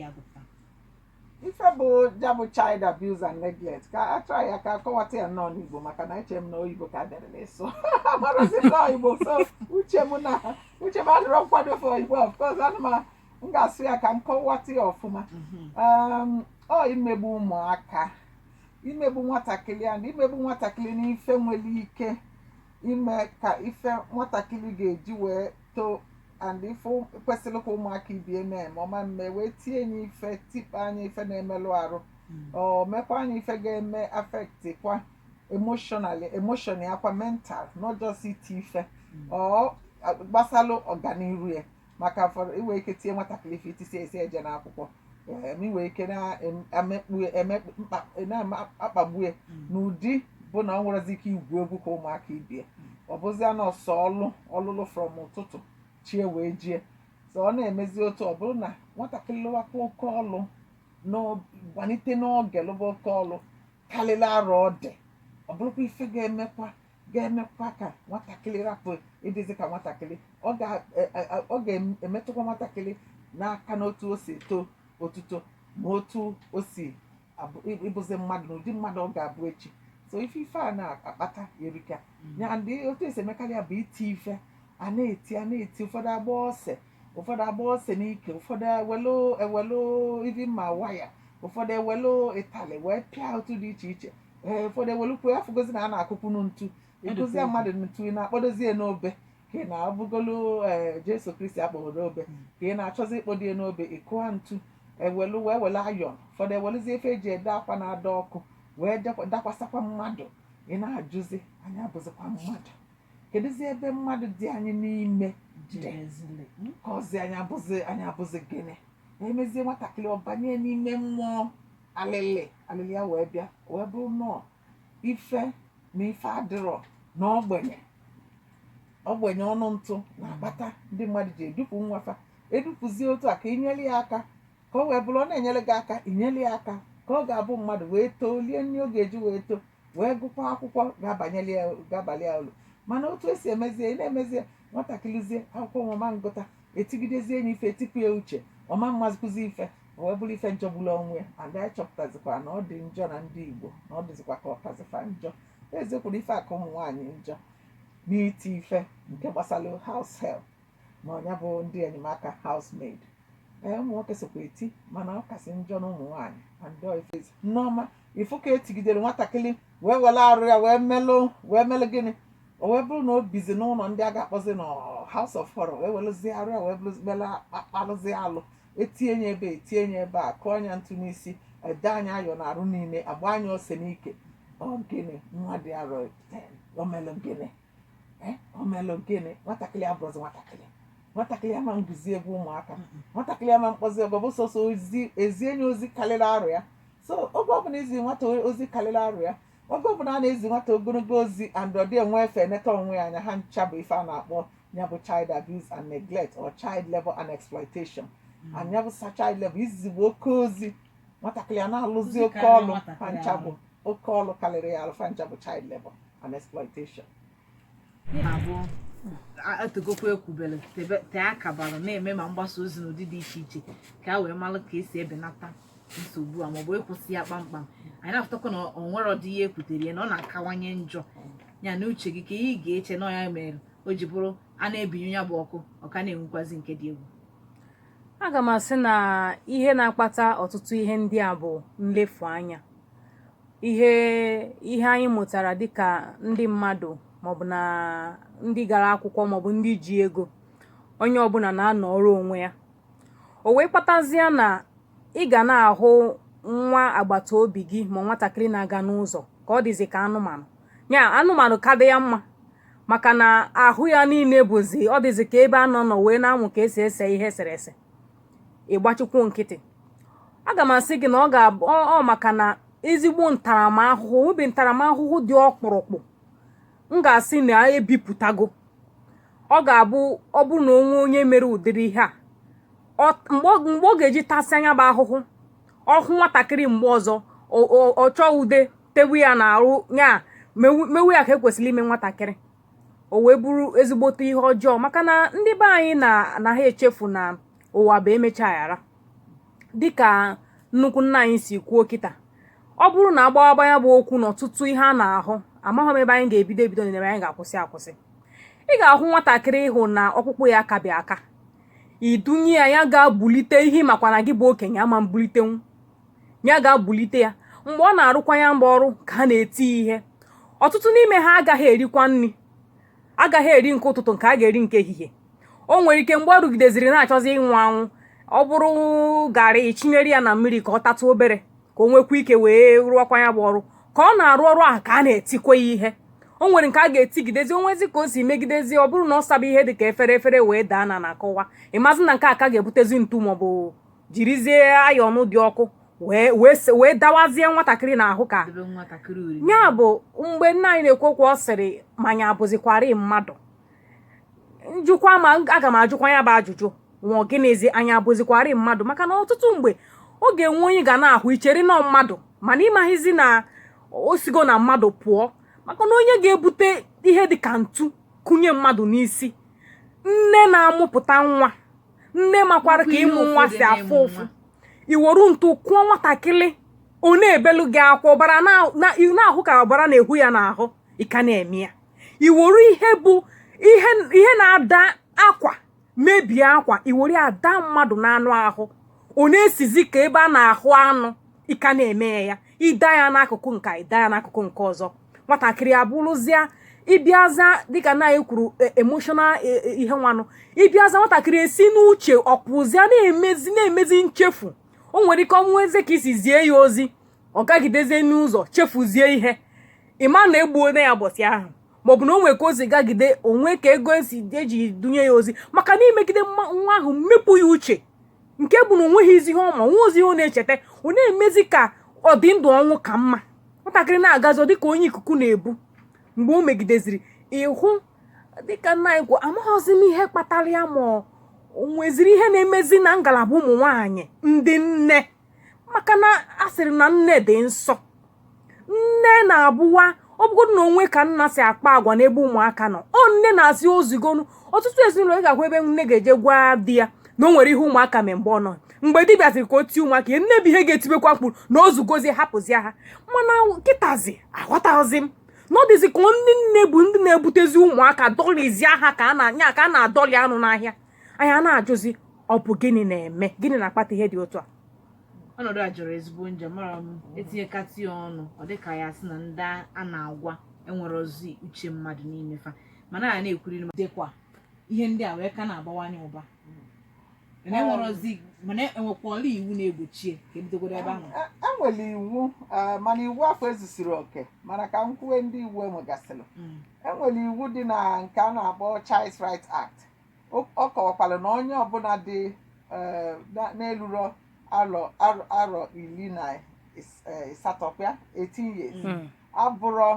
ya gụpụta ife bụ ya bụ child abuse and neglect ka a chọọ ya ka a kọwata ya nnọọ n'igbo maka na eche m na oyibo ka dere n'ịsụ amarazi nnọọ igbo so uche m na uche m adịrọ nkwado for igbo of course ana m m ga-asụ ya ka m kọwata ya ọfụma um, ọ imegbu ụmụaka imegbu nwatakịrị a na imegbu nwatakịrị n'ife nwere ike ime ka ife nwatakịrị ga-eji wee too and ife kwesịrị ka ụmụaka ibe ya mee ma ọma mme wee tie nya ife tikpọ anya ife na-emelụ arụ ọ mekwa nya ife ga-eme affect kwa emotionally emotion ya kwa mental not just iti ife ọ gbasalụ ọganiru ya maka fọrọ i nwee ike tie nwatakịrị ife itisi esi eje n'akwụkwọ em, i nwee ike na-emegbue emegbu mkpa na-akpagbue n'ụdị bụ na o nwerọzi ike igwu egwu ka ụmụaka ibe ya ọ bụzị na ọ sọ ọlụ ọlụ ọlụ from ụtụtụ chi ewee jie so ọ na-emezi otu ọ bụrụ na nwatakịrị lụwakwa oke ọlụ n'o- malite n'oge lụba oke ọlụ karịrị arọ ọ dị ọ bụrụkwa ife ga-emekwa ga-emekwa ka nwatakịrị rapụ ịdịzi ka nwatakịrị ọ ga- e- e- e- ọ ga-emetụkwa nwatakịrị n'aka n'otu o si eto otuto ma otu o si abụ- ị- ịbụzi mmadụ na ụdị mmadụ ọ ga-abụ echi so ife ife a na-akpata erika ya ndị otu e si emekarị ya bụ iti ife a na-eti a na-eti ụfọdụ agba ose ụfọdụ agba ose n'ike ụfọdụ ewelu ewelu even ma waya ụfọdụ ewelu ịtalị wee pịa otu dị iche iche ee ụfọdụ ewelukwa afụgozi na a na-akụkwanụ ntu ịkụzi ya mmadụ ntu ị na-akpọdozi ya n'obe ka ị na-abụgolu ee jesu kristi a kpọrọ n'obe ka ị na-achọzi ịkpọdo ya n'obe ịkụa ntu ewelu wee wele iron ụfọdụ ewelụzi ife e ji ede akwa na-ada ọkụ wee dekwa- dakwasakwa mmadụ ị na-ajụzi anyị abụzikwa mmadụ kedụzi ebe mmadụ dị anyị n'ime dị jezili. Mm. ka ọzi anyị abụzi anyị abụzi gịnị emezie nwatakịrị ọ banye n'ime mmụọ alịlị alịlị ya wee bịa wee bụrụ nnọọ ife na ife adịrọ na ogbenye ogbenye ọnụ ntụ na-akpata ndị mmadụ ji edupụ nwa fa edupụzie otu a ka i nyere ya aka ka o wee bụrụ ọ na-enyere gị aka i nyere ya aka ka ọ ga-abụ mmadụ wee too lie nri ọ ga-eji wee too wee gụkwa akwụkwọ ga-abanyeli ya ga-abalị ya ulu mana otu e si emezie ị na-emezie nwatakịrịzie akwụkwọ nwama ngụta etigidezie nya ife etipụ ya uche ọ ma-amazikwazi ife o wee bụrụ ife jọgburu onwe ya and anyị chọpụtazikwa na ọ dị njọ na ndị Igbo na ọ dịzikwa ka ọ kazi fa njọ eziokwu na ife a ka ụmụ nwaanyị njọ n'iti ife nke gbasara house help ma ọ nya bụ ndị enyemaka housemaid ee ụmụ nwoke sokwa eti mana ọ kasị njọ na ụmụ nwaanyị and ọ ife ezi nneọma ịfụ ka e tigidere nwatakịrị wee were arụ ya wee melụ wee melụ gịnị o wee bụrụ na o bizi n'ụlọ ndị a ga-akpọzi na house of horror wee werezie arụ ya wee bụrụzi- mela akpalụzi alụ etie nya ebe etie nya ebe a kụọ nya ntu n'isi edee nya iron na arụ niile agbaa nya ose n'ike ọgịnị nwa dị arọ omelụ gịnị eh, omelụ gịnị nwatakịrị abụrụzi nwatakịrị nwatakịrị ama nguzi ebe ụmụaka nwatakịrị ama mkpọzi ebe ọ bụ sọsọ ozi ezie nya ozi karịrị arụ ya so oge ọbụla izi nwata ozi karịrị arụ ya oge ọbụla a na-ezi nwata ogologo ozi and ọ dị enwe efe eneta onwe ya anya ha ncha bụ ife a na-akpọ ya bụ child abuse and neglect or child labor and exploitation and ya bụ sa child labor izigbu oke ozi nwatakịrị a na-alụzi oke ọlụ fancha bụ oke ọlụ karịrị ya alụ fancha bụ child labor and exploitation otegokwa ekwubere tee aka bara na-eme ma mgbasa ozi n'ụdị dị iche iche ka a wee mara ka esi ebenata nsogbu a maọbụ ịkwụsị ya kpamkpam anyị na-afụtakwa na ọ nwere ọdị ihe ekwutere ya na ọ na-akawanye njọ ya na uche gị kee ihe ị ga-eche na ya mere o ji bụrụ a na-ebinyụ ya bụ ọkụ ọ ka na-enwukwazi nke dị egwu aga m asị na ihe na-akpata ọtụtụ ihe ndị a bụ nlefu anya ihe ihe anyị mụtara dịka ndị mmadụ maọbụ na ndị gara akwụkwọ maọbụ ndị ji ego onye ọbụla na-anọrọ onwe ya o wee kpatazie na ị ga na-ahụ nwa agbata obi gị ma nwatakịrị na-aga n'ụzọ ka ọ dịzi ka anụmanụ ya anụmanụ ka dị ya mma maka na ahụ ya niile bụzi ọ dịzi ka ebe a nọ nọ wee na-amụ ka esi ese ihe eserese ịgbachikwu nkịtị aga m asị gị na ọ maka na ezigbo ntaramahụhụ o nwebe ntaramahụhụ dị ọkpụrụkpụ m ga-asị na ebipụtago ọ ga-abụ ọ bụrụ na o nwee onye mere ụdịrị ihe a mgbe ọ ga-eji tasịa nya bụ ahụhụ ọ hụ nwatakịrị mgbe ọzọ ọ chọọ ude tewe ya na arụ ya mewe ya ka ekwesịrị ime nwatakịrị o wee bụrụ ezigbote ihe ọjọọ maka na ndị be anyị na anaghị echefu na ụwa bụ emechaa aghara dịka nnukwu nna anyị si kwuo kịta ọ bụrụ na agbawaba ya bụ okwu na ọtụtụ ihe a na-ahụ amaghị m ebe anyị ga-ebido ebido na ebe anyị ga-akwụsị akwụsị ị ga-ahụ nwatakịrị ịhụ na ọkpụkpụ ya akabi aka idunye ya ya gaa bulite ihe ị makwa na gị bụ okenye ama mbulitenwu ya gaa bulite ya mgbe ọ na-arụkwa ya bụ ọrụ ka a na-eti ihe ọtụtụ n'ime ha agaghị erikwa nri agaghị eri nke ụtụtụ nke a ga-eri nke ehihie o nwere ike mgbe ọ rụgideziri na-achọzi ịnwụ anwụ ọ bụrụ garị chinyere ya na mmiri ka ọ tatụ obere ka o nwekwa ike wee rụọkwa ya bụ ọrụ ka ọ na-arụ ọrụ ahụ ka a na-etikwa ya ihe o nwere nke a ga-etigidezi o nwezie ka o si megidezi ọ bụrụ na ọ saba ihe dị ka efere efere wee daa n'ana kụwaa ị mazi na nke a ka ga-ebutezi ntu maọbụ jirizie ayọn dị ọkụ wee wee se- wee dawazie nwatakịrị n'ahụ ka Debe nwatakịrị oriri. ya bụ mgbe nna anyị na-ekwu okwu ọ sịrị ma anyị abụzikwara mmadụ njụkwa ma aga m ajụkwa ya bụ ajụjụ nwa gịnịzi anyị abụzikwara mmadụ maka na ọtụtụ mgbe ọ ga-enwe onye ị ga na-ahụ i chere na ọ mmadụ mana ị maghịzi na o sigo na mmadụ pụọ maka na onye ga-ebute ihe dị ka ntu kụnye mmadụ n'isi nne na-amụpụta nwa nne makwara ka ịmụ nwa si afụ ụfụ i were ntu kụọ nwatakịrị ọ na-ebelu gị akwa ọbara na-ahụ ka ọbara na-ehu ya n'ahụ ị ka na-eme ya i were ihe bụ ihe na-ada akwa mebie akwa i were ada mmadụ n'anụ ahụ ọ na-esizi ka ebe a na-ahụ anụ ị ka na-eme ya ị da ya n'akụkụ nke a ị da ya n'akụkụ nke ọzọ nwatakịrị abụrụzịa ị bịazịa dịka nna anyị kwuru e, emotional e, e, ihe nwanụ ị bịazịa nwatakịrị esi n'uche ọ kwụzịa na-emezi na-emezi nchefu o nwere ike o nwezie ka i si zie ya ozi ọ gagidezie n'ụzọ chefuzie ihe ị ma na egbuona ya ụbọsị ahụ maọbụ na o nwere ka ozi gagide o nwee ka ego esi e ji dunye ya ozi maka na i megide nwa ahụ mepụ ya uche nke bụ na o nweghịzi ihe ọ ma o nwezi ihe ọ na-echeta ọ na-emezi ka ọ dị ndụ ọnwụ ka mma nwatakịrị na-agazi ọ dịka onye ikuku na-ebu mgbe o megideziri ị hụ dịka nna anyị kwuo amaghịzi m ihe kpatara ya ma o nweziri ihe na-emezi na ngalaba ụmụ nwaanyị ndị nne maka na a sịrị na nne dị nsọ nne na-abụwa ọ bụgodu na o nwee ka nna si akpa agwa n'ebe ụmụaka nọ ọ nne na-asị o zugonu ọtụtụ ezinụlọ ị ga-ahụ ebe nne ga-eje gwa di ya na o nwere ihe ụmụaka mee mgbe ọ nọ mgbe di bịaziri ka o tie ụmụaka ya nne bụ ihe ga-etibekwa mkpu na o zugozie hapụzie ha mana kịtazi aghọtaghịzi m na ọ dịzi ka ndị nne bụ ndị na-ebutezi ụmụaka dọlịzie ha ka a na-anya ka a na-adọlị anụ n'ahịa anyị ana-ajụzi ọ bụ gịnị na-eme gịnị na-akpata ihe dị otu a ọnọdụ a jọrọ ezigbo njọ amarọ m e tinyekata ya ọnụ ọ dị ka ya sị na ndị a na-agwa enwerọzi uche mmadụ n'ime fa mana a na-ekwuri na dịkwa ihe ndị a wee ka na-abawanye ụba mana enwerọzi mana e nwekwara iwu na-egbochi ya ka e bidogodu ebe ahụ E- e nwere iwu eh, mana iwu afụ ezusirọ oke mana ka m kwuwe ndị iwu e nwegasịrị Mm. e nwere iwu dị na nke a na-akpọ Child Rights Act ọ kọwakwara na onye ọbụna dị eh, na-elurọ arọ arọ iri na ịsatọ eh, ya 18 years hmm. abụrọ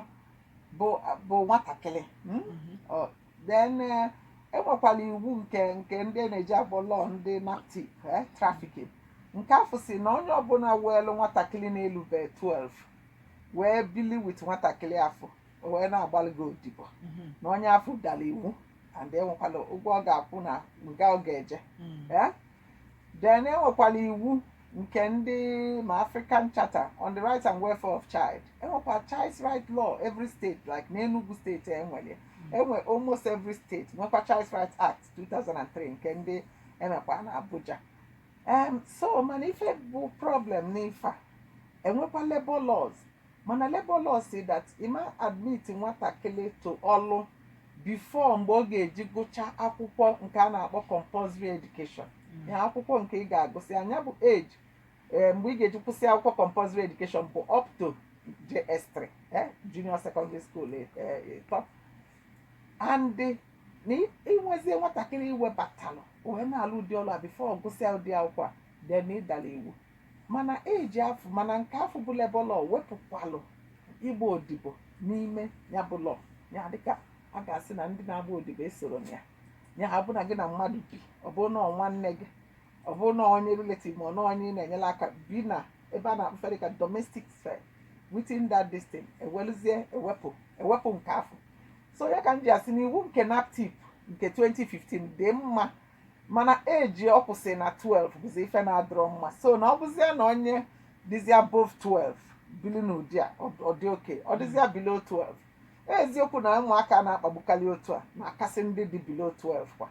bụ nwatakịrị hmm? mm-hmm. then e nwekwalụ eh, e iwu nke nke ndị na-eji labour law ndị NAPTIP trafficking nke afụ sị na onye ọbụna weelu nwatakịrị na-elube 12 wee bili with nwatakịrị afụ o wee na-agbalị gị odibo mm-hmm. na onye afụ dalụ iwu and enwekwala ụgwọ ọ ga-akwụ na nga ọ ga-eje Mm. Eh? then enwekwala iwu nke ndị ma african charter on the right and welfare of child enwekwa child's right law every state like n'enugu state enwere enwe almost every state nwekwa child's right act 2003 nke ndị enwekwa na abuja um, so mana ife bụ problem n'ife a enwekwa labor laws Mana labour law say that ị ma admit nwatakịrị to ọlụ before mgbe ọ ga-eji gụcha akwụkwọ nke a na-akpọ compulsory education ihe akwụkwọ nke ị ga-agụsị nya bụ age eh, mgbe ị ga-eji kwụsị akwụkwọ compulsory education bụ up to JS3 eh, junior secondary school eh, eh, ịtọ and eh, na ị- i nwezie nwatakịrị i webatalụ o wee na-alụ ụdị ọlụ a before ọ gụsịa ụdị akwụkwọ a then ị dara iwu mana age afụ mana nke afụ bụ labour law wepụkwalụ ịgba odibo n'ime ya bụ law ya dịka a ga-asị na ndị na-agba odibo esoro na ya nya bụ na gị na mmadụ bi ọ bụrụ na ọ nwanne gị ọ bụrụ na onye relative ma ọ na onye ị na-enyere aka bi na ebe a na-akpọ ife dịka domestic sphere within that distance ewelụzie ewepụ ewepụ nke afụ so ya ka m ji asị na iwu nke naptip nke 2015 dị mma mana age ọ kwụsị na 12 bụzi ife na-adịrọ mma so na ọ bụzia na onye dịzi above 12 bili n'ụdị a ọ- ọ dị okay ọ dịzia below 12 eziokwu na ụmụaka na-akpagbukarị otu a na-akasị ndị dị below 12 kwa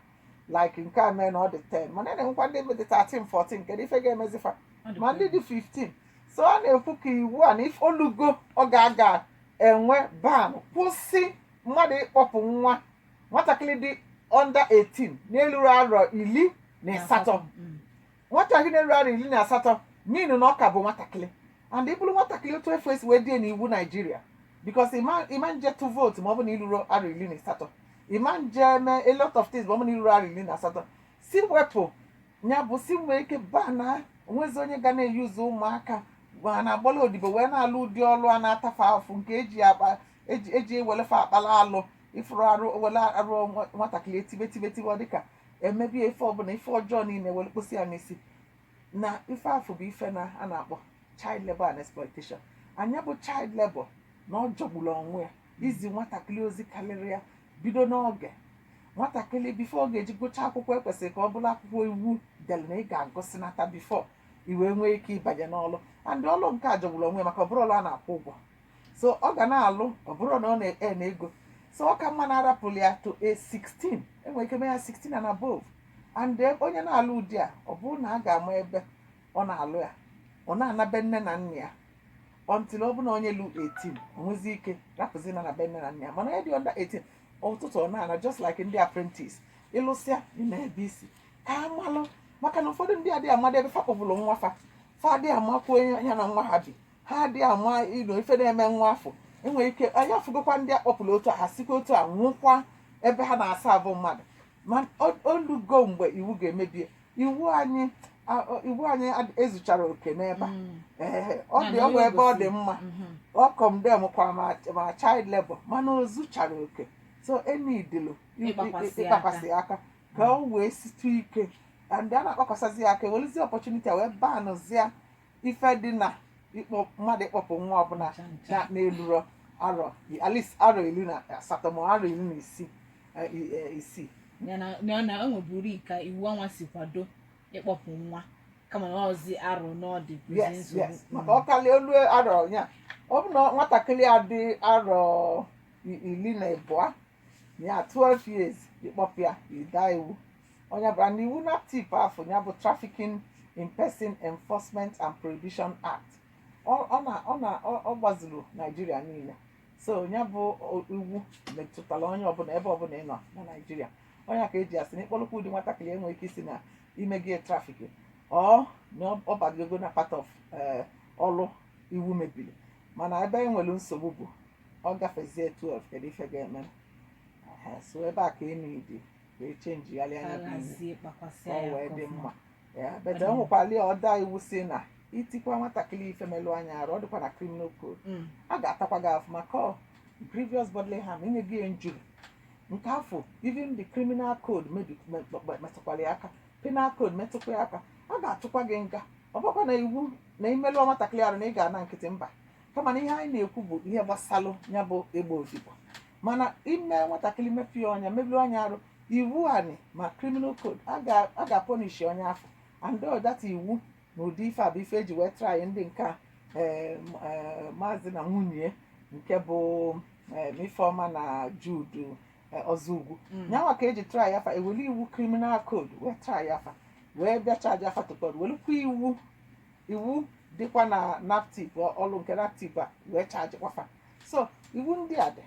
like nke a mee na ọ dị 10 mana a na-enwekwa ndị dị 13 14 kedu ife ga-emezi fa ma ndị dị 15 so a na-ekwu ka iwu a na ife olugo oge a ga-enwe ban kwụsị mmadụ ịkpọpụ nwa nwatakịrị dị under 18 na-eluro arọ iri na asatọ Mm. nwatakịrị na-eluro arọ iri na asatọ n'ihi na ọ ka bụ nwatakịrị and ị bụrụ nwatakịrị otu afụ e si wee dee n'iwu nigeria because ị ma nje tụ vote ma ọ bụ na i ruru arọ iri na asatọ ị ma nje mee a lot of things ma ọ bụ na i ruru arọ iri na asatọ si wepụ ya bụ si nwee ike ban na o nwezi onye ga na-use ụmụaka ma na-agbala odibo wee na-alụ ụdị ọlụ a na-ata afụfụ nke eji akpa eji eji ewele ife akpala alụ ị fụrụ arụ were arụ nwa- nwatakịrị etibe tibe tibe ọ dịka emebie ife ọbụla ife ọjọọ niile were kpọsị ya n'isi na ife afụ bụ ife na a na-akpọ child labor and exploitation nya bụ child labor na ọ jọgburu onwe ya izi nwatakịrị ozi karịrị ya bido n'oge nwatakịrị before ọ ga-eji gụchaa akwụkwọ ekwesịrị ka ọ bụrụ akwụkwọ iwu dere na ị ga-agụsịnata before i wee nwee ike ịbanye n'ọlụ and ọlụ nke a jọgburu onwe ya maka ọ bụrụ ọlụ a na-akwụ ụgwọ so ọ ga na-alụ ọ bụrụ na ọ na-earn ego so ọ ka mma na a rapụrụ ya to a 16 e nwere ike mee ya 16 and above and then onye na-alụ ụdị a ọ bụrụ na a ga-ama ebe ọ na-alụ ya ọ na-ana be nne na nna ya until ọ bụrụ na onye lu 18 nwezi ike rapụzi na na be nne na nna ya mana onye dị under 18 ụtụtụ ọ na-ana just like ndị apprentice ị lụsịa ị naa ebe i si ka a malụ maka na ụfọdụ ndị adịghị amadị ebe fa kpọpụrụ nwa fa fa adịghị amakwu onye ya na nwa ha bi ha adịghị ama ilo ife na-eme nwa afụ e nwere ike anyị afụgokwa ndị a kpọpụrụ otu a ha sikwa otu a nwụkwa ebe ha na-asa abụ mmadụ ma o lugo mgbe iwu ga-emebi iwu anyị iwu anyị ezucharọ oke n'ebe a mm. ọ dị ọgwụ ebe ọ dị mma mm-hmm. ọ condemnkwara child labor mana o zucharọ oke so e needili ịkpakwasị aka ka o wee sietụ ike ndị a na-akpakwasazị ya aka e weluzie opportunity wee banzie ife dị na ịkpọ mmadụ ịkpọpụ nwa ọbụla na- na-elurọ arọ at least arọ iri na asatọ ma arọ iri na isii eh, i- eh, isii ya na na ọ na o nweburu ka iwu ọnwa si kwado ịkpọpụ nwa kama na ọzi arọ one ọ dị bụzi yes nsogbu yes maka ọ karịa o lu arọ ya ọ bụ na nwatakịrị a dị arọ i- iri na abụọ ya 12 years ị kpọpụ ya ị daa iwu ọ ya bara na iwu naptip afụ ya bụ trafficking in person enforcement and prohibition act ọ ọ na ọ na ọ ọ gbazuru naijiria niile so ya bụ o- iwu metụtara onye ọbụla ebe ọbụla ị nọ na naijiria ọ ya ka e ji asị na ị kpọrọkwa ụdị nwatakịrị e nwee ike ịsị na i mego traffick ọ na ọ- ọ bago na part of eh, ọrụ iwu mebiri mana ebe e nwere nsogbu bụ ọ gafezie 12 kedu ife ga-eme Aha, so ebe a ka e needi ka e changegharịa ya bụ iwu alazie kpakwasị aka ọ ya wee dị ọfụma. mma Ya, but o nwekwara ya other iwu sị na i tikwa nwatakịrị ife melụọ ya arụ ọ dịkwa na criminal code Mm. a ga-atakwa gị afụfụ maka ọ grievous bodily harm inye gị injury nke afụ even the criminal code mebi- me- me- metụkwara ya aka penal code metụkwa ya aka a ga-atụkwa gị nga ọ bụkwa na iwu na i melụọ nwatakịrị arụ na ị ga-ana nkịtị mba kama na ihe anyị na-ekwu bụ ihe gbasalụ ya bụ ịgba odibo mana ime nwatakịrị mepie ọnya merụọ ya arụ iwu anyị ma criminal code a ga- a ga-apunish onye afụ and all that iwu na ụdị ife a bụ ife e ji wee try ndị nke a eh, m- eh, maazị na nwunye nke bụ eh, ifeọma na jude eh, ozougwu Mm. ya nwa ka e ji try fa e were iwu criminal code wee try fa wee bịa charge fa to court welukwa iwu iwu dịkwa na naptip ọlụ nke naptip a wee chaji kwa fa so iwu ndị a dị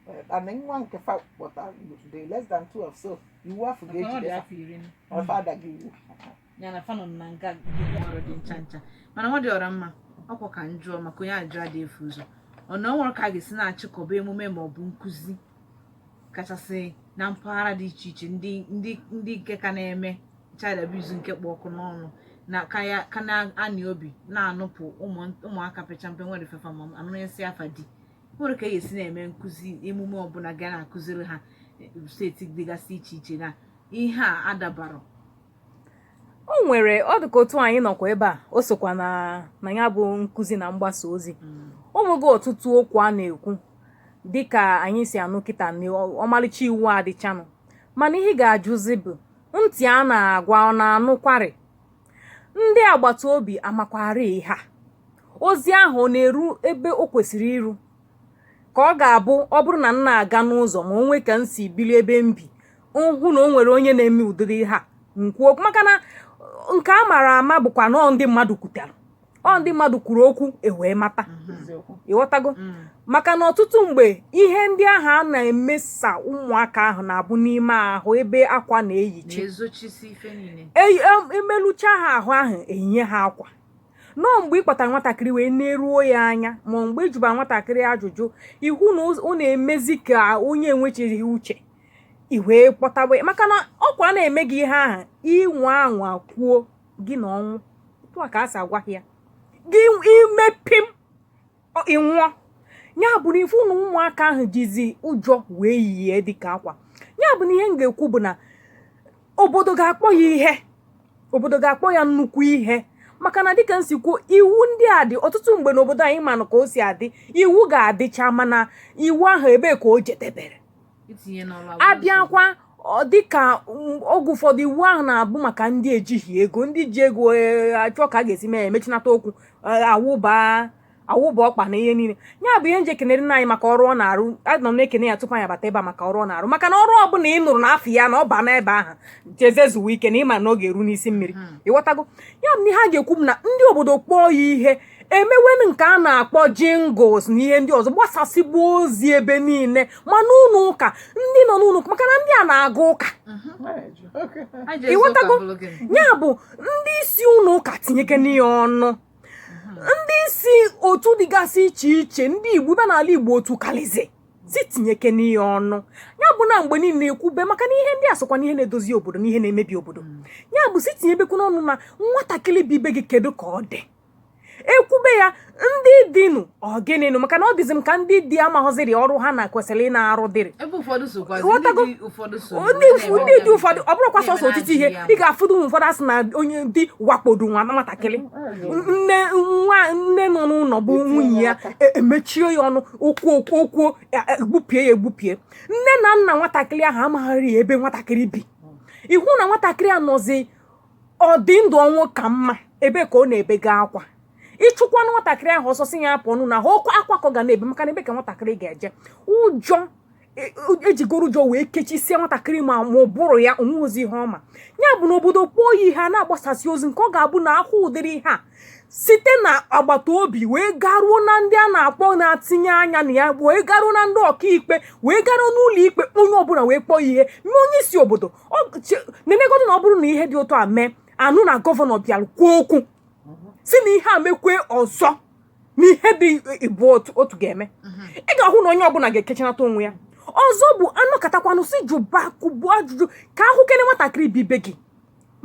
Eh, and nwa nke fa kpọta dị less than 12 so iwu afọ Maka na ọ dị ga-ejide afọ iri na- ọfa adaghị iwu ya na fa nọ na nga ọrụ dị ncha ncha mana nwa dị ọra mma ọkwa ka m jụọ maka onye ajụjụ adị efu ụzọ ọ na o nwere ka a ga-esi na-achịkọba emume ma ọ bụ nkụzi kachasị na mpaghara dị iche iche ndị ndị ndị nke ka na-eme child abuse nke kpụ ọkụ n'ọnụ na ka ya ka na-anị obi na-anụpụ ụmụaka pecha mpe nwere fefa ma anụnyesịa fa di nwere ka e si na-eme nkụzi emume ọbụla ga na-akụziri ha eh, steeti dịgasị iche iche na ihe a adabarọ o nwere ọ dịka otu anyị nọkwa ebe a o sokwa na na ya bụ nkụzi na mgbasa ozi mm. o nwega ọtụtụ okwu a na-ekwu dịka anyị si anụ kịta na ọmalịcha iwu adịchanụ mana ihe ga-ajụzi bụ ntị a na-agwa ọ na-anụkwarị ndị agbata obi amakwarị ihe a ozi ahụ ọ na-eru ebe o kwesịrị iru ka ọ ga-abụ ọ bụrụ na m na-aga n'ụzọ ma o nwee ka m si bili ebe m bi m hụ na o nwere onye na-eme ụdịrị ihe a m kwuo maka na nke a mara ama bụkwa na ọ ndị mmadụ kwutere ọ ndị mmadụ kwuru okwu e wee mata ị ghọtago mm. maka na ọtụtụ mgbe ihe ndị ahụ a na-emesa ụmụaka ahụ na-abụ n'ime ahụ ebe akwa na-eyichi emelụchaa e, e ha ahụ ahụ eyie ha akwa na ọ mgbe ị kpọtara nwatakịrị i wee neruo ya anya ma mgbe ị jụbara nwatakịrị ajụjụ ị hụ na ọ na-emezi ka onye enwechighị uche i wee kpọtawe maka na ọkwa a na-eme gị ihe ahụ ị nwaa anwa kwuo gị na ọnwụ otu a ka a si agwa ya gị i mee pịm ị nwụọ ya bụ na ị fụ na ụmụaka ahụ jizi ụjọ wee yie dịka akwa ya bụ na ihe m ga-ekwu bụ na obodo ga-akpọ ya ihe obodo ga-akpọ ya nnukwu ihe maka na dịka m si kwuo iwu ndị a dị ọtụtụ mgbe n'obodo anyị manụ ka o si adị iwu ga-adịcha mana iwu ahụ ebee ka o jedebere a bịakwa dịka oge ụfọdụ iwu ahụ na-abụ maka ndị ejighị ego ndị ji ego e, achọọ ka a ga-esi mee emechinata okwu e, awụba awụba ọkpa na ihe niile ya bụ ihe m ji ekenere nna anyị maka ọrụ ọ na-arụ anọ m na-ekene ya tupu anyị abata ebe a maka ọrụ ọ na-arụ maka na ọrụ ọbụla ị nụrụ na afa ya na ọ ba n'ebe ahụ jezie zuwe ike na ị ma na ọ ga-eru n'isi mmiri hmm. ị ghọtago ya bụ na ihe a ga-ekwu bụ na ndị obodo kpọọ ya ihe emewenụ nke a na-akpọ jingles na ihe ndị ọzọ gbasasịba ozi ebe niile ma n'ụlọ ụka ndị nọ n'ụlọ ụka maka na ndị a na-aga ụka ị ghọtago ya bụ ndị isi ụlọ ụka tinyekene ya ọnụ ndị isi otu dịgasị iche iche ndị igbo bi n'ala igbo otu kalizi si tinyekene ya ọnụ ya bụ na mgbe niile ekwube maka na ihe ndị a sokwa na ihe na-edozi obodo na ihe na-emebi obodo ya bụ si tinyebekwu n'ọnụ na nwatakịrị bi be gị kedu ka ọ dị ekwube ya ndị di nụ ọ gịnị nụ maka na ọ dịzi m ka ndị di amaghịziri ọrụ ha na kwesịrị ị na-arụ dịrị ebe ụfọdụ sokwazi Ghọtago? ndị di ụfọdụ so ndị ụf- ndị di ụfọdụ ọ bụrụkwa sọsọ otiti ihe ị ga-afụdụ ụmụ ụfọdụ asị na onye di wakpodo nwa nwatakịrị nne nwa nne nọ n'ụlọ bụ nwunye ya e- emechie ya ọnụ okwu okwu okwu e- e- egbubie ya egbubie nne na nna nwatakịrị ahụ amaghịrị ya ebe nwatakịrị bi ị hụ na nwatakịrị a nọzi ọ dị ndụ ọnwụ ka mma ebee ka ọ na-ebega akwa ị chụkwanụ nwatakịrị ahụ ọsọ sị ya pụọ n'ụlọ ahụ ọ bụ akwa ka ọ ga na-ebe maka na ebee ka nwatakịrị ga-eje ụjọ e- e- ejigoro ụjọ wee kechisie nwatakịrị ma ma ụbụrụ ya o nwezi ihe ọ ma ya bụ na obodo kpọọ ya ihe a na-agbasasị ozi nke ọ ga-abụ na a hụ ụdịrị ihe a site na agbata obi wee garuo na ndị a na-akpọ na-atinye anya na ya wee garuo na ndị ọkaikpe wee garuo n'ụlọ ikpe onye ọbụla wee kpọọ ya ihe ma onye isi obodo nenegodu na ọ bụrụ na ihe dị otu a mee a nụ na gọvanọ bịara kwuo okwu sị na ihe a mekwe ọzọ na ihe dị ibu otu ga-eme ị ga-ahụ na onye ọbụla ga-ekechanata onwe ya ọzọ bụ a nọkatakwanụ sị jụbakwuo ajụjụ ka a hụkene nwatakịrị bi be gị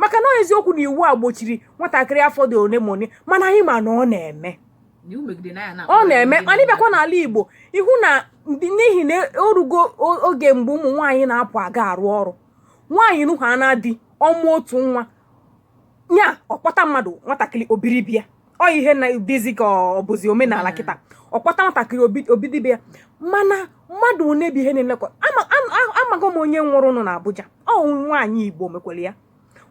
maka na ọ eziokwu na iwu a gbochiri nwatakịrị afọ dị ole ma ole mana anyị ma na ọ na-eme ọ na-eme mana ị bịakwa n'ala Igbo ị hụ na n'ihi na o rugo oge mgbe ụmụ nwaanyị na-apụ aga arụ ọrụ nwaanyị nọhaa na di ọ mụọ otu nwa nya ọ kpọta mmadụ nwatakịrị o biri be ya ọ ihe na dịzi ka ọ bụzi omenala kịta ọ kpọta nwatakịrị o biri be ya mana mmadụ one bụ ihe na-elekọta amaghị m onye nwụrụnụ na Abuja ọ nwaanyị Igbo mekwara ya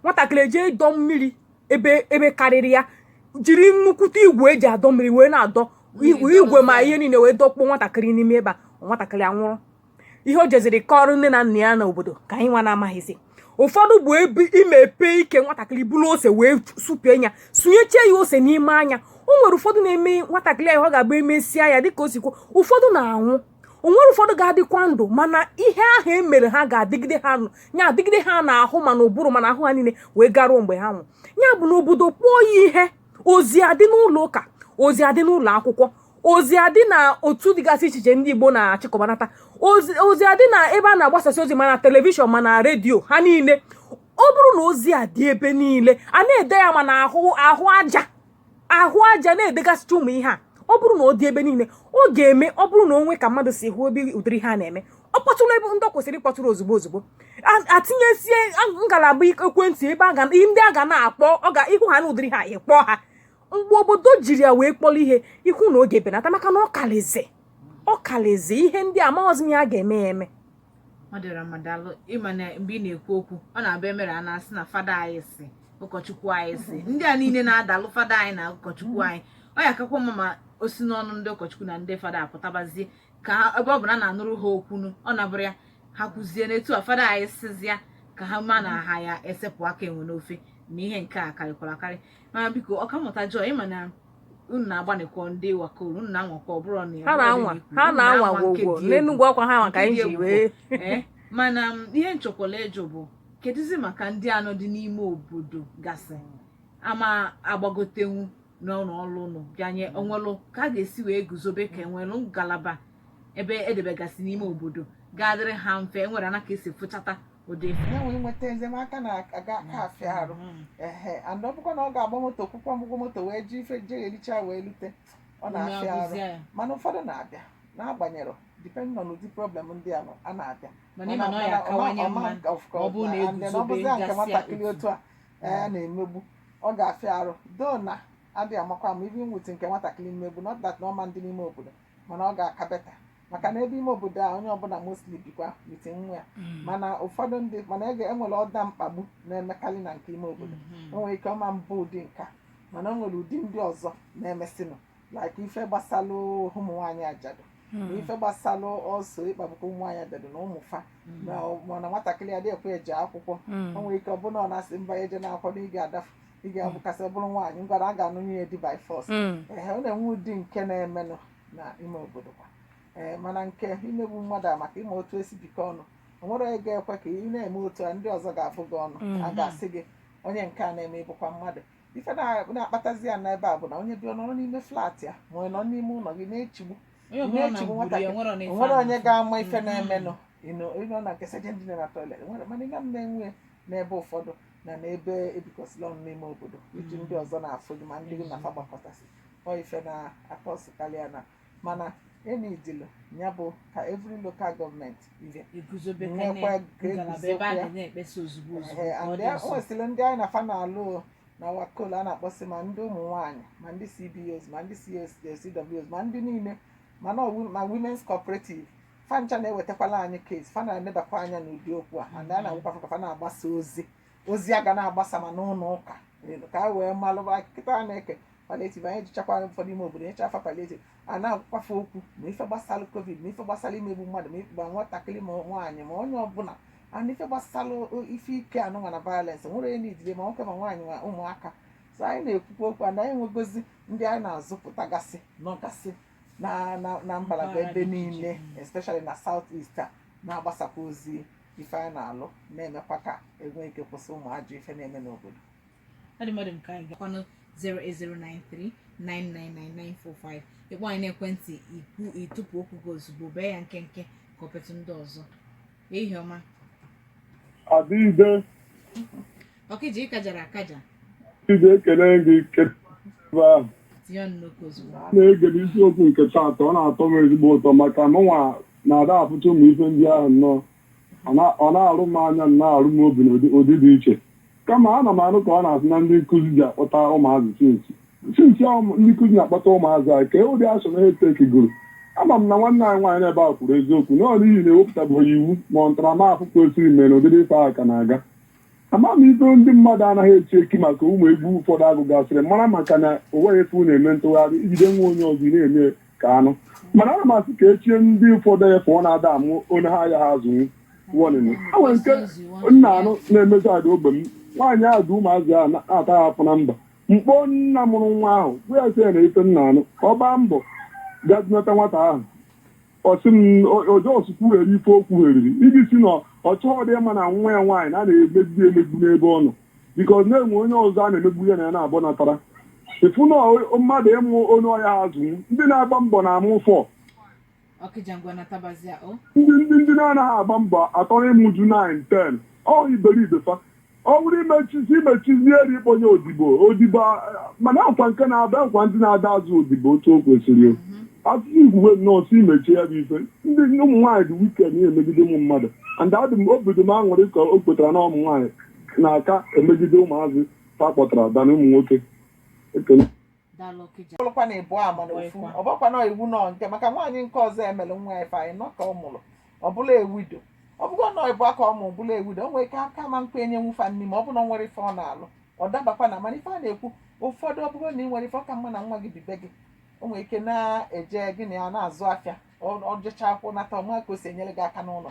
nwatakịrị eje ịdọ mmiri ebe ebe karịrị ya jiri nnukwute igwe e ji adọ mmiri wee na-adọ igwe ma ihe niile wee dọkpụọ nwatakịrị n'ime ebe a nwatakịrị anwụrụ ihe o jeziri kọrọ nne na nna ya na obodo ka anyị nwa na-amaghịzi ụfọdụ bụ ebe imepe ike nwatakịrị buru ose wee supie ya sunyechie ya ose n'ime anya o nwere ụfọdụ na-eme nwatakịrị ahụ ọ ga-agba emesịa ya dịka o si kwuo ụfọdụ na-anwụ o nwere ụfọdụ ga-adịkwa ndụ mana ihe ahụ e mere ha ga-adịgide ha nya adịgide ha n'ahụ ma n'ụbụrụ ma n'ahụ ha niile wee garuo mgbe ha nwụrụ ya bụ na obodo kpọọ ya ihe ozi ga-adị n'ụlọ ụka ozi ga-adị n'ụlọ akwụkwọ ozi ga-adị na otu dịgasị iche iche ndị Igbo na-achịkọbanata ozi adị na ebe a na-agbasasị ozi ma na telivishọn ma na redio ha niile ọ bụrụ na ozi a dị ebe niile a na-ede ya ma na ahụ ahụ aja ahụ a ja na-edegasịcha ụmụ ihe a ọ bụrụ na ọ dị ebe niile ọ ga-eme ọ bụrụ na o nwee ka mmadụ si hụ ebe ụdịrị ihe a na-eme ọ kpọtụrụ ebe ndị ọ kwesịrị ịkpọtụrụ ozugbo ozugbo atinyesie ngalaba ekwentị ebe ndị a ga na-akpọ ọ ga ị hụ ha na ụdịrị ihe a ị kpọọ ha mgbe obodo jiri ya wee kpọrọ ihe ị hụ na ọ ga-ebenata maka na ọ kalizi ọ kalizi ihe ndị amaghịzi ihe a ga-eme ya eme ọ dịra mma daalụ ị ma na mgbe ị na-ekwu okwu ọ na-abụ e mere a na-asị na fada anyị sị ụkọchukwu anyị sị ndị a niile na-adalụ fada anyị na ụkọchukwu anyị ọ ya-akakwa mma ma o si n'ọnụ ndị ụkọchukwu na ndị fada pụtabazie ka ha ebe ọ bụ na a na-anụrụ ha okwu nụ ọ na-abụrụ ya ha kwuzie n'etu a fada anyị sịzịa ka ha ma na ha ya-esepụ aka enwe n'ofe na ihe nke a karịkwara akarị mana biko ọkammụta Joy ị ma na unu na-agbanịkwa ndị WACOL unu na-anwakwa ọ bụrụ na ya ha na-anwa ha na-anwa gwogwo n'Enugwu ọkwa ha maka anyị ji wee eh, mana um, ihe m chọkwalụ ịjụ bụ kedụzi maka ndị a nọdị n'ime obodo gasị ama-agbagotenwu n'ụlọ ọrụ unu bịanye o nwelụ ka a ga-esi wee guzobe ka e nwelụ ngalaba ebe e debegasị n'ime obodo ga-adịrị ha mfe e nwere anaka e si fụchata odefu ya nwere nweta enyemaka na ọ ga-aka afịa arụ Mm. ehe and ọ bụkwa na ọ ga-agba moto kwụkwuo ụgwọ moto wee ji ife je ericha wee lute ọ na-afịa arụ Agụzịa ya. mana ụfọdụ na-abịa n'agbanyeghị depending on ụdị problem ndị a nọ, a na-abịa mana ị ma na ọ ya-akawanye mma na ọ bụrụ na e guzobe ọbụzia nke gasịa nwatakịrị otu. otu a ee na-emegbu ọ ga-afịa arụ though na adịghị amakwa maybe nwute nke nwatakịrị mmegbu not that na ọ ma-adị n'ime obodo mana ọ ga-aka better maka na ebe ime obodo a onye ọbụla mostly bikwa with nwa ya mana ụfọdụ ndị mana ege e nwere ụdị mkpagbu na-emekarị na nke ime obodo o nwere ike ọ ma-abụ ụdị nke a mana o nwere ụdị ndị ọzọ na-emesinụ like ife gbasalụ ụmụ nwaanyị ajadu na ife gbasalụ ọsọ ịkpagbukọ ụmụ nwaanyị ajadu na ụmụ fa na mana nwatakịrị ya adị ekwe eje akwụkwọ o nwere ike ọ bụ na ọ na-asị mba ya eje na-akwado ị ga-adafu ị ga-abụkasị bụrụ nwaanyị ngwara a ga-anụ nwunye di by force Mm. ee ọ na-enwe ụdị nke na-emenụ na ime obodo kwa ee mana nke imegbu mmadụ a maka ị ma otu e si bikọ ọnụ o nwere onye ga-ekwe ka ị na-eme otu a ndị ọzọ ga-abụ gị ọnụ a Mhm. ga-asị gị onye nke a na-eme ị bụkwa mmadụ ife na- na-akpatazi ya n'ebe a bụ na onye bi ọ nọrọ n'ime flat ya ma ọ nọ n'ime ụlọ gị na-echigbu onye ọbụla na na-echigbu mgburi ya nwatakịrị. nwere na ife o nwere a onye na-afụ. ga-ama ife Mhm. na-emenụ ịnọ ịnọ na nke sejen dị na toilet nwere mana ime m na-enwe n'ebe ụfọdụ na n'ebe e bikọsịlị ọnụ n'ime obodo etu ndị ọzọ na-afụ gị ma ndị gị na fa gbakọtasị ọ ife na-akọsị karịa na mana the ideal ya bụ ka every local government ibe e guzobe ka Nwekwa na- ka ngalaba e guzobe ebe a ya. ga na-ekpesa ozugbo ozugbo Ehe, ka ọ and dị there- nso. o nwesịrị ndị anyị na fa na-alụ o, na WACOL a na-akpọsị ma ndị ụmụ nwaanyị ma ndị CBOs ma ndị CSOs ma ndị niile mana ọwụ- ma women's cooperative fa ncha na-ewetakwala anyị case fa na-enebakwa anya n'ụdị okwu a and a na-agwakwa fa ka fa na-agbasa ozi ozi a ga na-agbasa ma n'ụlọ ụka elu ka anyị wee malụba kịta a na-eke palliative anyị jechakwa ụfọdụ ime obodo nyechaa fa palliative a na-agwakwa fa okwu ma ife gbasara covid ma ife gbasara imegbu mmadụ ma ife ma nwatakịrị ma nwaanyị ma onye ọbụla ana ife gbasara o- ife ike anụnwa na violence nwere onye na-ejide ma nwoke ma nwaanyị ma ụmụaka so anyị na-ekwukwa okwu a na anyị nwegozi ndị anyị na-azụpụtagasị nọgasị na na na mgbalagba ebe niile especially na south east a na-agbasakwa ozi ife anyị na-alụ na-emekwa ka e nwee ike kwụsị ụmụ ajọ ife na-eme n'obodo ọ dị mmadụ nke anyị gakwanụ 08093999945 ị kpọọ anyị n'ekwentị ikwu ịtụpụ okwu gị ozugbo bee ya nkenke ka ọ petụ ndị ọzọ Ehihie ọma. Adịide, Ọkịja ịkajara akaja. Adịide ekele gị kele ebe ahụ. Tinye ọnụ n'okwu ozugbo. A na-ege n'isiokwu nke taata ọ na-atọ m ezigbo ụtọ maka mụnwa na-ada apụta ụmụ ife ndị ahụ nnọọ. Ọ na- Ọ na-arụ m anya na-arụ m obi n'ụdị ụdị dị iche. Kama ana m anụ ka a na-asị na ndị nkuzi ji akpọta ụmụazị since since ahụ m- ndị nkuzi na-akpọta ụmụazị anyị kee ụdị action ha etekigoro. Ama m na nwanne anyị nwaanyị n'ebe a kwuru eziokwu na ọ n'ihi na ewepụtabeghị iwu ma ọ ntaramahụhụ kwesịrị mere na ụdị ife ahụ ka na-aga. Ama m ife ndị mmadụ anaghị echi echi maka ụmụ egwu ụfọdụ agụgasịrị mara maka na ụwa bụ efe na-eme ntụgharị i jide nwa onye ọzọ ị na-eme ka anụ mana ana m asị ka e chie ndị ụfọdụ efe ọ na-ada amụ onye ha ya ha azụnwu wọnịnụ a nwere nke m na-anụ na-emezi ada ogbe m nwaanyị ahụ ji ụmụazị ahụ na-ata ha afụfụ na mba m kpọọ nna mụrụ nwa ahụ bịa sị ya na ife m na-anụ ka ọ gbaa mbọ gaa dunata nwata ahụ ọ sị m ọ just kwuhere ife o kwuheriri iji si na ọ chọghịdị ịma na nwa ya nwaanyị na a na-emegbu emegbu n'ebe ọ nọ because na e nwee onye ọzọ a na-emegbu ihe na ya na-abụ natara ịfụ na ọ- mmadụ ịmụ onye ọ ya-azụ ndị na-agba mbọ na-amụ fọ ọkịja ngwa natabazia o ndị ndị ndị na-anaghị agba mbọ atọ ịmụju 9 10 ọ iberibe fa ọ bụrụ imechizi imechizi eri ịkpọnye odibo odibo a- mana akwa nke na-abịa akwa ndị na-ada azụ odibo otu o kwesịrị o. asụsụ igwe nnọọ si imechie ya bụ ife ndị ụmụ nwaanyị dị wicked na-emegide ụmụ mmadụ and adị m obi dị m aṅụrị ka o kwetara na ụmụ nwaanyị na-aka emegide ụmụazị fa kpọtara than ụmụ nwoke ekele daalụ ọkịja ọlụkwa na ịbụ ama na ofu Ọkwa. ọbakwa na iwu nọ nke maka nwaanyị nke ọzọ emere nwa ya ife anyị nọ ka ọ mụrụ ọ bụla a widow ọ bụgo nọ ịbụ aka ọ mụ bụla a widow o nwere ike aka ma nkwa enyenwu fa nni ma ọ bụ na ọ nwere ife ọ na-alụ ọ dabakwa na mana ife a na-ekwu ụfọdụ ọ bụgo na ị nwere ife ọ ka mma na nwa gị bi be gị o nwere ike na-eje gị na ya na-azụ afịa ọ ọ jechaa akwụkwọ nata ọ ma ka o si enyere gị aka n'ụlọ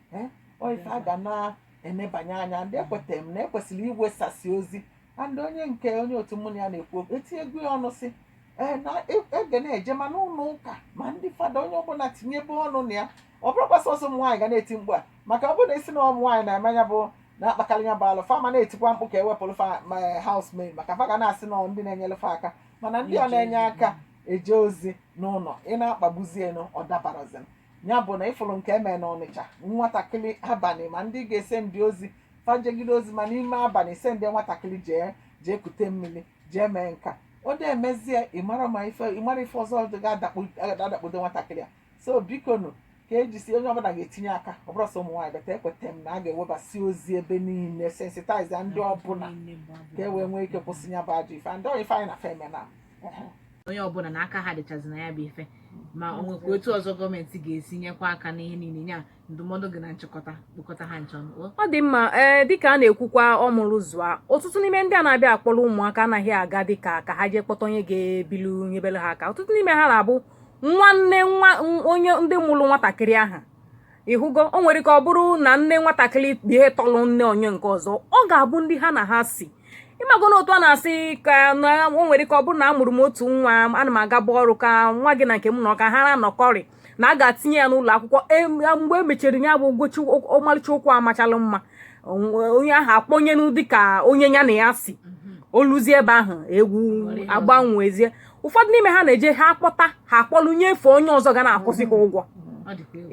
ee ọ ife a ga na-enebanye anya and ekwetara m na ekwesịrị iwesasị ozi and onye nke onye otu mụ na ya na-ekwu okwu etinyego ya ọnụ si ee na e- a ga na-eje ma n'ụlọ ụka ma ndị fada onye ọbụla tinyebe ọnụ na ya ọ bụrọkwa sọsọ ụmụ nwaanyị ga na-eti mkpu a maka ọ bụrụ na esi na ụmụ nwaanyị na-eme ya bụ na-akpakarị ya bụ alụ fa ma na-etikwa mkpu ka ewepụrụ fa ma housemaid maka fa ga na-asị na ndị na-enyere fa aka mana ndị a na-enye aka eje ozi n'ụlọ ị na-akpagbuzie nụ ọ dabarọzi ya bụ na ịfụrụ nke emere na ọnịcha nwatakịrị abalị ma ndị ga-esendi ozi fa jegide ozi ma n'ime abalị ị sendi nwatakịrị jee jee kute mmiri jee mee nka o de emezie ị marọ ma ife ị marọ ife ọzọ dị ga-adakwudo nwatakịrị a so biko nụ ka ejisi onye ọbụla ga-etinye aka ọ bụrọ sọ ụmụ nwaanyị but ekweta m na a ga-ewebasi ozi ebe niile sensitaiza ndị ọbụla ka e wee nwee ike kwụsị ya bụ ajọ ife and ife anyị na-eme na onye ọbụla na aka ha dịchazi na ya bụ ife ma o nwekwa otu ọzọ gọọmenti ga-esi nyekwa aka n'ihe niile nye anyị ndụmọdụ gị na nchịkọta kpokọta ha ncha o ọ dị mma ee dịka a na-ekwukwa ọmụrụ zụa ọtụtụ n'ime ndị a na-abịa akpọrọ ụmụaka anaghị aga dịka ka ha jee kpọta onye ga-ebilu nyebere ha aka ọtụtụ n'ime ha na-abụ nwanne nwaanyị ndị mụrụ nwatakịrị ahụ ịhụgo o nwere ka ọ bụrụ na nne nwatakịrị ihe tọrọ nne onye nke ọzọ ọ ga-abụ ndị ha na ha si ịmago na otu a na-asị ka na o nwere ka ọ bụrụ na a mụrụ m otu nwa ana m agaba ọrụ ka nwa gị na nke m nọ ka ha na-anọkọrị na a ga-etinye ya n'ụlọ akwụkwọ e, mgbe e mechara ya bụ ụgwọchi ọmalịcha okwu amachalụ mma onye ahụ akpọnyenụ dịka onye ya na ya si o luzie ebe ahụ egwu agbanwezie ụfọdụ n'ime ha na-eje ha akpọta ha akpọlụ nyefe onye ọzọ ga na-akwụsị ha ụgwọ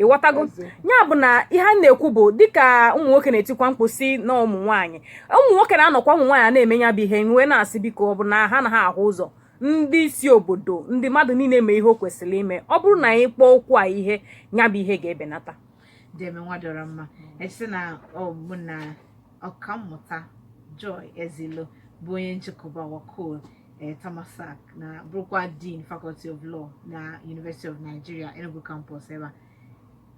ịghọtago ya bụ na ihe a na-ekwu bụ dịka ụmụ nwoke na-etikwa mkpu si na ụmụ nwaanyị ụmụ nwoke na-anọkwa ụmụ nwaanyị a na-eme ya bụ ihe wee na-asị biko ọ bụ na ha anaghị ahụ ụzọ ndị isi obodo ndị mmadụ niile mee ihe o kwesịrị ime ọ bụrụ na anyị kpọọ okwu a ihe ya bụ ihe ga-ebenata Deeme Nwadịọramma esi na ọ bụ na ọkammụta Joy Ezeilo bụ onye nchịkọba WACOL eh, Tamar SARC na bụrụkwa Dean Faculty of Law na University of Nigeria Enugu Campus ebe a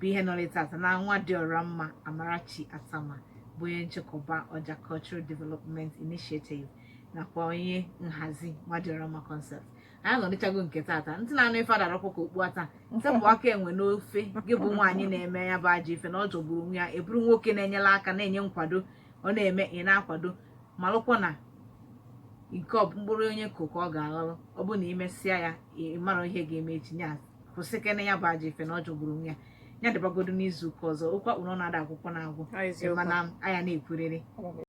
bụ ihe nọrọ tata na Nwadịọramma Amarachi Attamah bụ onye nchịkọba Ọja Cultural Development Initiative nakwa onye nhazi Nwadịọramma Concept anyị nọrịchago nke tata ntị na-anụ ife adarọ aha ka okpu ata wepụ aka enwe n'ofe gị bụ nwaanyị na-eme ya bụ ajọ ife na ọ jọgburu onwe ya ị bụrụ nwoke na-enyere aka na-enye nkwado ọ na-eme ị na-akwado malụkwa na nke ọ bụ mkpụrụ onye kụ ka ọ ga-aghọlụ ọ bụ na imesịa ya ị marọ ihe ga-eme echi ya kwụsịkene ya bụ ajọ ife na ọ jọgburu onwe ya ya dịbagodo n'izu ụka ọzọ okwu a kpụ n'ọnụ ada agwụkwanụ agwụ Ọ eziokwu. mana a ya na-ekwurịrị